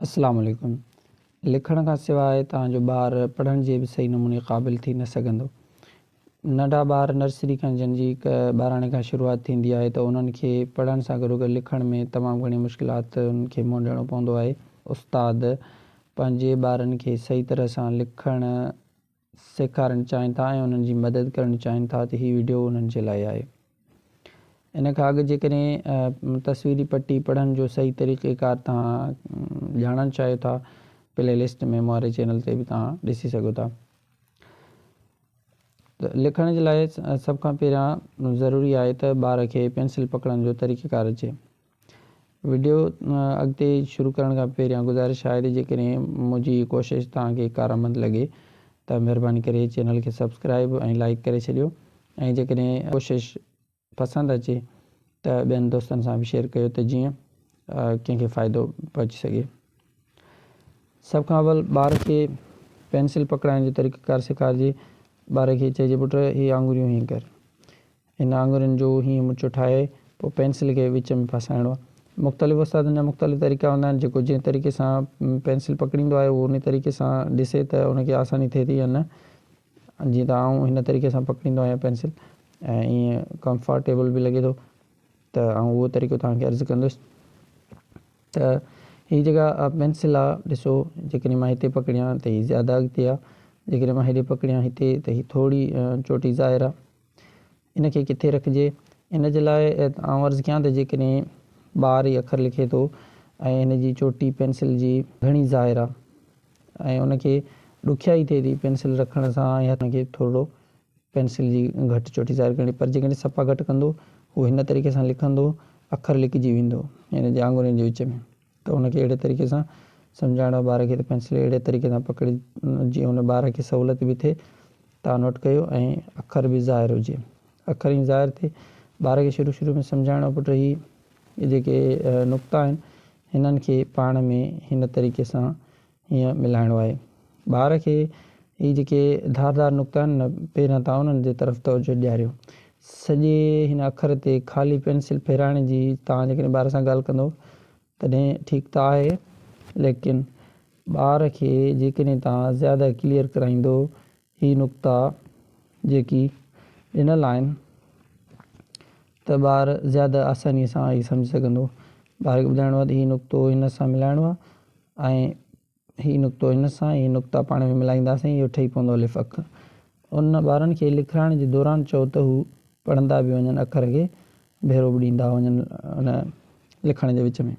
السلام عليڪم لکڻ کان سواء توهان جو ٻار پڙهڻ جي به صحيح نموني قابل ٿي نه سگهندو. ننڍا ٻار نرسري کان جن جي ٻاراڻي کان شروعات ٿيندي آهي ته انهن کي پڙهڻ سان گڏوگڏ لکڻ ۾ تمام گهڻي مشڪلاتن کي منهن ڏيڻو پوندو آهي. استاد پنهنجي ٻارن کي صحيح طرح سان لکڻ سيکارڻ چاهين ٿا ۽ انهن جي مدد ڪرڻ چاهين ٿا ته هي وڊيو انهن جي لاء آهي. ان کان اڳ جيڪڏهن تصويري پٽي پڙهڻ جو صحيح طريقه ڪار توهان ڄاڻڻ چاهيو ٿا پلي لسٽ ۾ موري چينل تي به توهان ڏسي سگهو ٿا. لکڻ جي لاء سڀ کان پهريان ضروري آهي ته ٻار کي پينسل پڪڙڻ جو طريقه ڪار اچي. وڊيو اڳتي شروع ڪرڻ کان پهريان گذارش آهي ته جيڪڏهن منهنجي هي ڪوشش توهان کي ڪارآمد لڳي ته مهرباني ڪري چينل کي سبسڪرائيب ۽ لائيڪ ڪري ڇڏيو ۽ جيڪڏهن ڪوشش پسند اچي ته ٻين دوستن سان به شيئر ڪيو ته جيئن ڪنهن کي فائدو پهچي سگهي. سڀ کان اول ٻار کي پينسل پڪڙائڻ جو طريقه ڪار سيکارجي ٻار کي چئجي پٽ هي آڱريون هيئن ڪر. هن آڱرين جو هيئن مچو ٺاهي پوء پينسل کي وچ ۾ ڦاسائڻو آهي. مختلف استادن جا مختلف طريقا هوندا آهن، جيڪو جنهن طريقي سان پينسل پڪڙيندو آهي اهو انهي طريقي سان ڏسي ته ان کي آساني ٿئي ٿي يا نه. جيئن ته آئون هن طريقي سان پڪڙيندو آهيان پينسل ۽ ائين ڪمفارٽيبل به لڳي ٿو ته آئون اهو طريقو توهان کي عرض ڪندس ته هي جيڪا پينسل آهي ڏسو جيڪڏهن مان هتي پڪڙيان ته هي زياده اڳتي آهي، جيڪڏهن مان هيڏي پڪڙيان هتي ته هي ٿوري چوٽي ظاهر آهي. ان کي ڪٿي رکجي. ان جي لاء آئون عرض ڪيان ته جيڪڏهن ٻار هي اکر لکي ٿو ۽ هن جي چوٽي پينسل جي گهڻي ظاهر آهي ۽ ان کي ڏکيائي ٿئي ٿي پينسل رکڻ سان ۽ هٿ کي ٿورڙو پينسل جي گهٽ چوٽي ظاهر ڪرڻي پر جيڪڏهن صفا گهٽ ڪندو هو هن طريقي سان لکندو اکر لڪجي ويندو يعني جي آڱرين جي وچ ۾. ته ان کي اهڙي طريقي سان سمجهائڻو ٻار کي ته پينسل اهڙي طريقي سان پڪڙي جيئن ان ٻار کي سهولت به ٿئي تان نوٽ ڪيو ۽ اکر به ظاهر هجي اکر ائين ظاهر ٿئي ٻار کي شروع شروع ۾ سمجهائڻو پٽ هي جيڪي نقطا آهن هنن کي پاڻ ۾ هن طريقي سان ائين ملهائڻو آهي. ٻار کي هي جيڪي ڌار ڌار نقطا آهن نه پيرن تان انهن جي طرف توجهه ڏياريو. سڄي هن اکر تي خالي پينسل ڦيرائڻ جي توهان جيڪڏهن ٻار سان ڳالهه ڪندو تڏهن ٺيڪ ته آهي ليڪن ٻار کي جيڪڏهن توهان زياده ڪليئر ڪرائيندو هي نقطا جيڪي ڏنل آهن ته ٻار زياده آساني سان هي سمجهي سگهندو. ٻار کي ٻڌائڻو آهي ته هي نقطو هن سان ملائڻو آهي ۽ هي نقطو هن سان ۽ هي نقطا پاڻ ۾ ملائينداسين اهو ٺهي پوندو الف اک. ان ٻارن کي لکرائڻ جي دوران چئو ته هو پڙهندا به وڃن اکر کي ڀيرو به ڏيندا وڃن ان لکڻ جي وچ ۾.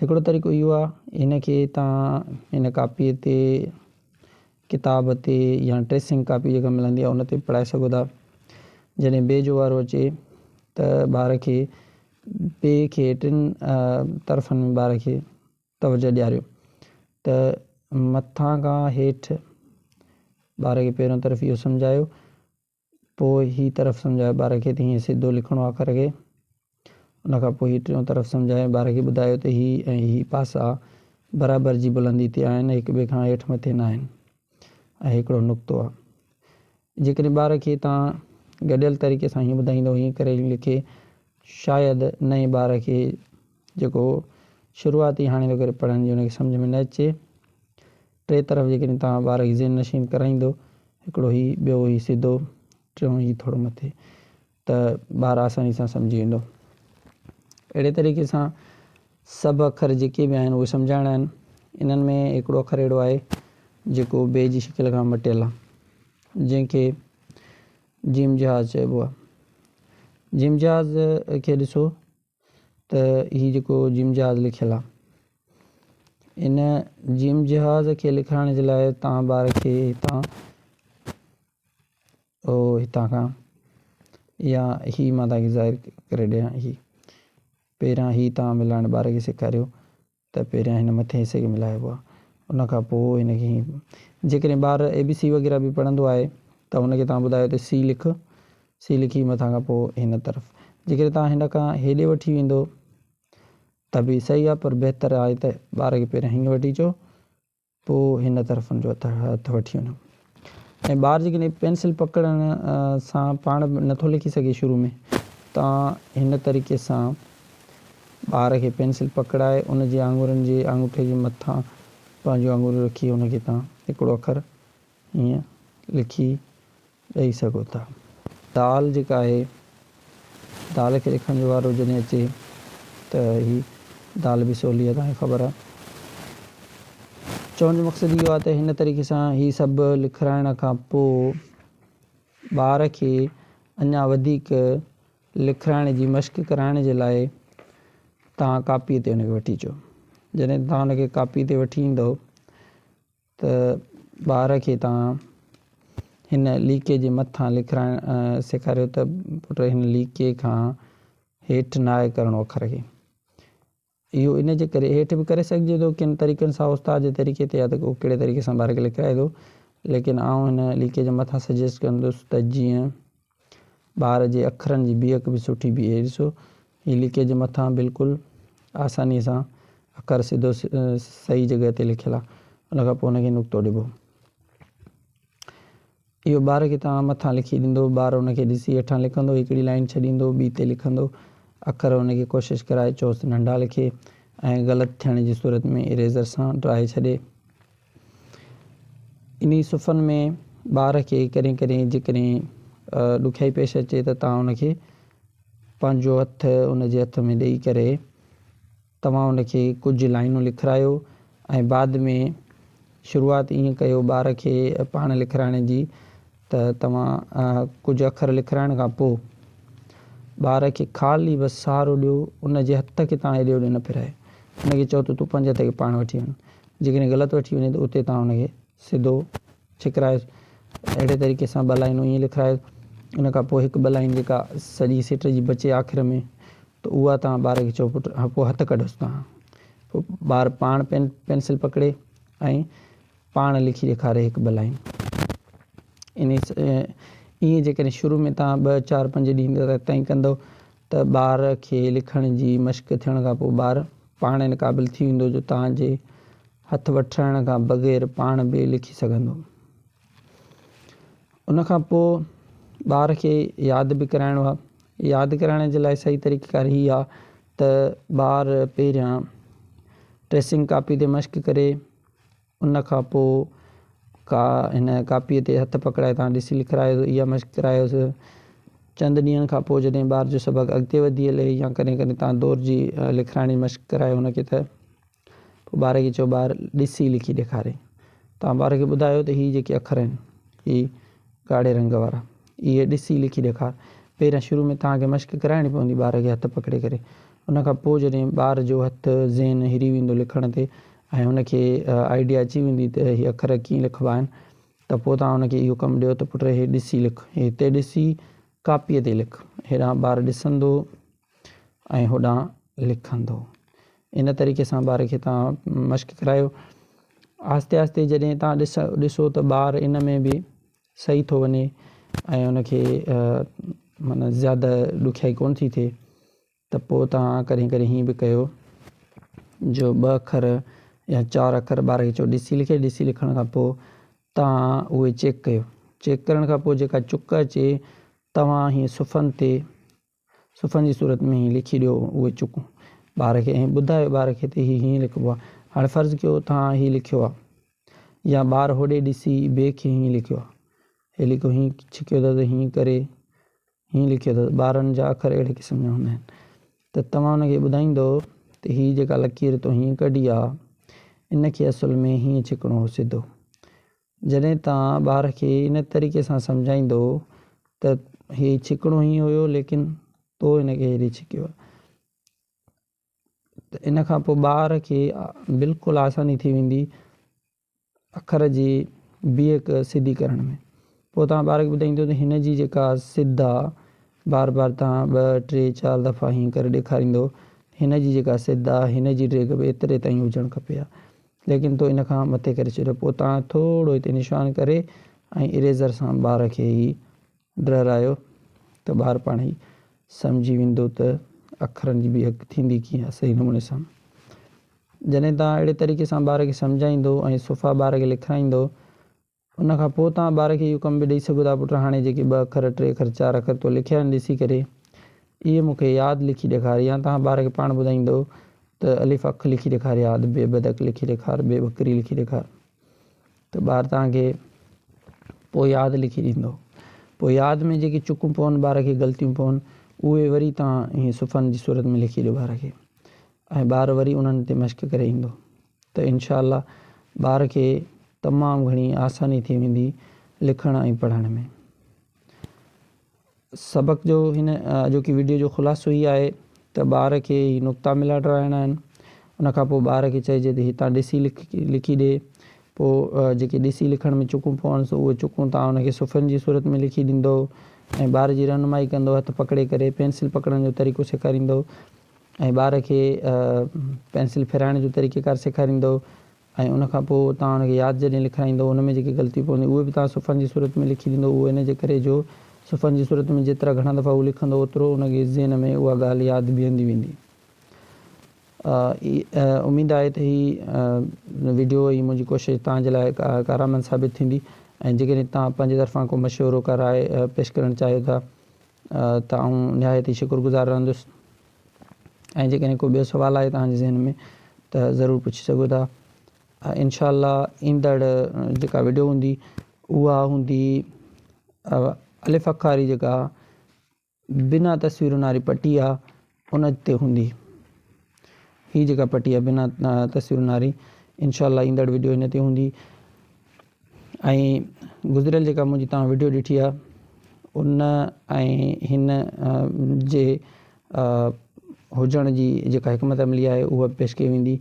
هڪڙو طريقو اهو آهي هن کي توهان هن ڪاپيء تي ڪتاب تي يا ٽريسنگ ڪاپي جيڪا ملندي آهي ان تي به پڙهائي سگهو ٿا. جڏهن بي جو وارو اچي ته ٻار کي بي کي ٽن طرفن ۾ ٻار کي توجهه ڏياريو ته مٿان کان هيٺ ٻار کي پهريون طرف اهو سمجهايو پوء هي طرف سمجهائي ٻار کي ته هيئن سڌو لکڻو آ اکر کي. ان کان پوء هي ٽيون طرف سمجهائي ٻار کي ٻڌايو ته هي ۽ هي پاسا برابر جي بلندي تي آهن، هڪ ٻئي کان هيٺ مٿي ناهن ۽ هڪڙو نقطو آ. جيڪڏهن ٻار کي تان گڏيل طريقي سان هيئن ٻڌائيندو هيئن ڪري هيئن لکي، شايد نئين ٻار کي جيڪو شروعاتي هاڻي ٿو ڪري پڙهڻ جي ان کي سمجهه ۾ نه اچي. ٽي طرف جيڪڏهن توهان ٻار کي ذهن نشين ڪرائيندو هڪڙو هي ٻيو هي سڌو ٽيون هي ٿورو مٿي ته ٻار آساني سان سمجهي ويندو اهڙي طريقي سان سڀ اکر جيڪي به آهن اهي سمجهائڻا آهن انهن ۾ هڪڙو اکر اهڙو آهي جيڪو بي جي شڪل کان مٽيل آهي جنهن کي جيم جهاز چئبو آهي جيم جهاز کي ڏسو ته هي جيڪو جيم جهاز لکيل آهي ان جيم جهاز کي لکرائڻ جي لاء تان ٻار کي هتان او هتان کان يا هي مان تان کي ظاهر ڪري ڏيان هي پهريان هي تان ملائڻ ٻار کي سيکاريو ته پهريان هن مٿين حصي کي ملائبو آهي ان کان پوء هن کي هيئن جيڪڏهن ٻار اي بي سي وغيره به پڙهندو آهي ته هن کي توهان ٻڌايو ته سي لک سي لکي مٿان کان پوء هن طرف جيڪڏهن توهان هن کان هيڏي وٺي ويندو ته به صحيح آهي پر بهتر آهي ته ٻار کي پهريان هيئن وٺي چئو پوء هن طرفن جو هٿ وٺي وڃو ۽ ٻار جيڪڏهن پينسل پڪڙڻ سان پاڻ به نٿو لکي سگهي شروع ۾ تان هن طريقي سان ٻار کي پينسل پڪڙائي ان جي آڱرين جي آڱوٺي جي مٿان پنهنجون آڱريون رکي ان کي تان هڪڙو اکر ائين لکي ڏئي سگهو ٿا. دال جيڪا آهي دال کي لکڻ جو وارو جڏهن اچي ته هي دال به سولي آهي توهانکي خبر آهي. چوڻ جو مقصد اهو آهي ته هن طريقي سان هي سڀ لکرائڻ کان پوء ٻار کي اڃا وڌيڪ لکرائڻ جي مشق ڪرائڻ جي لاء توهان ڪاپي تي ان کي وٺي اچو جڏهن توهان ان کي ڪاپي تي وٺي ايندؤ ته ٻار کي توهان هن ليڪي جي مٿان لکرائڻ سيکاريو ته پٽ هن ليڪي کان هيٺ ناهي ڪرڻو اکر کي. اهو ان جي ڪري هيٺ به ڪري سگهجي ٿو ڪن طريقن سان استاد جي طريقي تي يا ته ڪو ڪهڙي طريقي سان ٻار کي لکرائي ٿو ليڪن آئون هن ليڪي جي مٿان سجيسٽ ڪندس ته جيئن ٻار جي اکرن جي بيهڪ به سٺي بيهي هئي ڏسو هي ليڪي جي مٿان بلڪل آساني سان اکر سڌو صحيح جڳهه تي لکيل آهي ان کان پوء ان کي نقطو ڏبو اهو ٻار کي تان مٿان لکي ڏيندو ٻار ان کي ڏسي هيٺان لکندو هڪڙي لائن ڇڏيندو ٻي تي لکندو اکر ان کي ڪوشش ڪرائي چوس ننڍا لکي ۽ غلط ٿيڻ جي صورت ۾ اريزر سان ڊرائي ڇڏي انهي صفحن ۾ ٻار کي ڪڏهن ڪڏهن جيڪڏهن ڏکيائي پيش اچي ته توهان ان کي پنهنجو هٿ ان جي هٿ ۾ ڏئي ڪري توهان ان کي ڪجهه لائينون لکرايو ۽ بعد ۾ شروعات ائين ڪيو ٻار کي پاڻ لکرائڻ جي ته توهان ڪجهه اکر لکرائڻ کان پوء ٻار کي خالي بس سهارو ڏيو، ان جي هٿ کي توهان هيڏي هوڏي نه ڦيرايو. ان کي چئو ته تون پنهنجي هٿ کي پاڻ وٺي وڃ. جيڪڏهن غلط وٺي وڃي ته اتي توهان ان کي سڌو ڇڪرايوس. اهڙي طريقي سان ٻه لائينون ائين لکرايوس. ان کان پوء هڪ ٻه لائين جيڪا سڄي سٽ جي بچي آخر ۾ ته اها توهان ٻار کي چئو پٽ هان پوء هٿ ڪڍس توهان. پوء ٻار پاڻ پين پينسل پڪڙي ۽ پاڻ لکي ڏيکاري هڪ ٻه لائين. انهي ائين جيڪڏهن شروع ۾ توهان ٻه چار پنج ڏينهن تي تائين ڪندو ته ٻار کي لکڻ جي مشق ٿيڻ کان پوء ٻار پاڻ ان قابل ٿي ويندو جو توهان جي هٿ وٺرائڻ کان بغير پاڻ به لکي سگهندو. ان کان پوء ٻار کي ياد به ڪرائڻو آهي. ياد ڪرائڻ جي لاء صحيح طريقه ڪار هي آهي ته ٻار پهريان ٽريسنگ ڪاپي تي مشق ڪري. ان کان پوء ڪا هن ڪاپيء تي هٿ پڪڙائي تان ڏسي لکرايو هو. اها مشق ڪرايوس. چند ڏينهن کان پوء جڏهن ٻار جو سبق اڳتي وڌي هلي يا ڪڏهن ڪڏهن تان دور جي لکرائڻي مشق ڪرائي هن کي ته پوء ٻار کي چئو ٻار ڏسي لکي ڏيکاري. تان ٻار کي ٻڌايو ته هي جيڪي اکر آهن، هي ڳاڙهي رنگ وارا. اهي ڏسي لکي ڏيکار. پهريان شروع ۾ توهان کي مشق ڪرائڻي پوندي ٻار کي هٿ پڪڙي ڪري. ان کان پوء جڏهن ٻار جو هٿ، ذهن، هري ويندو لکڻ تي ۽ هن کي آئيڊيا اچي ويندي ته هي اکر ڪيئن لکبا آهن ته پوء توهان هن کي اهو ڪم ڏيو ته پٽ هي ڏسي لک، هتي ڏسي ڪاپيء تي لک. هيڏانهن ٻار ڏسندو ۽ هوڏانهن لکندو. ان طريقي سان ٻار کي توهان مشق ڪرايو. آهستي آهستي جڏهن توهان ڏسو ته ٻار ان ۾ به سهي ٿو وڃي ۽ ان کي معنيٰ زياده ڏکيائي ڪونه ٿي ٿئي ته پوء توهان ڪڏهن ڪڏهن هيئن به ڪيو جو ٻه اکر يا چار اکر ٻار کي چئو ڏسي لکي ڏسي لکڻ کان پوء توهان اهي چيڪ ڪيو چيڪ ڪرڻ کان پوء جيڪا چڪ اچي توهان هيئن صفحن تي صفحن جي صورت ۾ هي لکي ڏيو اهي چڪون ٻار کي ۽ ٻڌايو ٻار کي ته هي هيئن لکبو آهي. هاڻي فرض ڪيو توهان هي لکيو آهي يا ٻار هوڏي ڏسي بي کي هيئن لکيو آهي. هي لکيو هيئن ڇڪيو اٿس ته هيئن ڪري هيئن لکيو اٿس. ٻارن جا اکر اهڙي قسم جا هوندا آهن ته توهان هن کي ٻڌائيندو ته هي جيڪا لڪير تو هيئن ڪڍي آهي ان کي اصل ۾ هيئن ڇڪڻو هو سڌو. جڏهن توهان ٻار کي ان طريقي سان سمجهائيندؤ ته هي ڇڪڻو هي هيو ليڪن تو هن کي هيڏي ڇڪيو ته ان کان پوء ٻار کي بلڪل آساني ٿي ويندي اکر جي بيهڪ سڌي ڪرڻ ۾ پوء توهان ٻار کي ٻڌائيندو ته هن جي جيڪا سڌ آ بار بار توهان ٻه ٽي چار دفعا هيئن ڪري ڏيکاريندو هن جي جيڪا سڌ آ هن جي ڊيگهه به ايتري تائين هجڻ کپي ها ليڪن تو ان کان مٿي ڪري ڇڏيو. پوء تان ٿورو هتي نشان ڪري ۽ اريزر سان ٻار کي هي ڊررايو ته ٻار پاڻ ئي سمجهي ويندو ته اکرن جي بيهڪ ٿيندي ڪيئن آهي صحيح نموني سان. جڏهن تان اهڙي طريقي سان ٻار کي سمجهائيندو ۽ صفا ٻار کي لکرائيندو ان کان پوء توهان ٻار کي اهو ڪم به ڏئي سگهو ٿا پٽ هاڻي جيڪي ٻه اکر ٽي اکر چار اکر تو لکيا آهن ڏسي ڪري اهي مون کي ياد لکي ڏيکار يا توهان ٻار کي پاڻ ٻڌائيندؤ ته الف اک لکي ڏيکار يا ادب بي بدڪ لکي ڏيکار بي بڪري لکي ڏيکار ته ٻار توهان کي پوء ياد لکي ڏيندو پوء ياد ۾ جيڪي چڪون پون ٻار کي غلطيون پون اهي وري توهان هي صفحن جي صورت ۾ لکي ڏيو ٻار کي ۽ ٻار وري انهن تي مشق ڪري ايندو. ته انشاء الله ٻار کي تمام گهڻي آساني ٿي ويندي لکڻ ۽ پڙهڻ ۾. سبق جو هن اڄوڪي وڊيو جو خلاصو هي آهي ته ٻار کي هي نقطا ملا ڊراهڻا آهن ان کان پوء ٻار کي چئجي ته هتان ڏسي لکي ڏي پوء جيڪي ڏسي لکڻ ۾ چڪون پونس اهي چڪون توهان ان کي صفحن جي صورت ۾ لکي ڏيندو ۽ ٻار جي رهنمائي ڪندو هٿ پڪڙي ڪري پينسل پڪڙڻ جو طريقو سيکاريندو ۽ ٻار کي پينسل ڦيرائڻ جو طريقيڪار سيکاريندؤ ۽ ان کان پوء توهان ان کي ياد جڏهن لکرائيندؤ ان ۾ جيڪي غلطيون پونديون اهي به توهان صفحن جي صورت ۾ لکي ڏيندو اهو ان جي ڪري جو صفحن جي صورت ۾ جيترا گهڻا دفعا هو لکندو اوترو ان جي ذهن ۾ اها ڳالهه ياد بيهندي ويندي. اميد آهي ته هي وڊيو ۽ منهنجي ڪوشش توهان جي لاء ڪارآمد ثابت ٿيندي ۽ جيڪڏهن توهان پنهنجي طرفان ڪو مشورو ڪا راء پيش ڪرڻ چاهيو ٿا ته آئون نهايت ئي شڪر گذار رهندس ۽ جيڪڏهن ڪو ٻيو سوال آهي توهان جي ذهن ۾ ته ضرور پڇي سگهو ٿا انشاء الله ايندڙ جيڪا ويڊيو هوندي اها هوندي الف اکاري جيڪا بنا تصويرن واري پٽي آهي ان تي هوندي. هي جيڪا پٽي آهي بنا تصويرن واري انشاء الله ايندڙ وڊيو هن تي هوندي ۽ گذريل جيڪا منهنجي توهان وڊيو ڏٺي آهي ان ۽ هن جي هجڻ جي جيڪا حڪمت عملي آهي اها به پيش ڪئي ويندي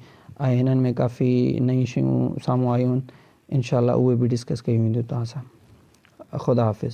۽ هنن ۾ ڪافي نيون شيون سامهون آيون آهن انشاء الله اهي به ڊسڪس ڪيون وينديون توهان سان خدا حافظ.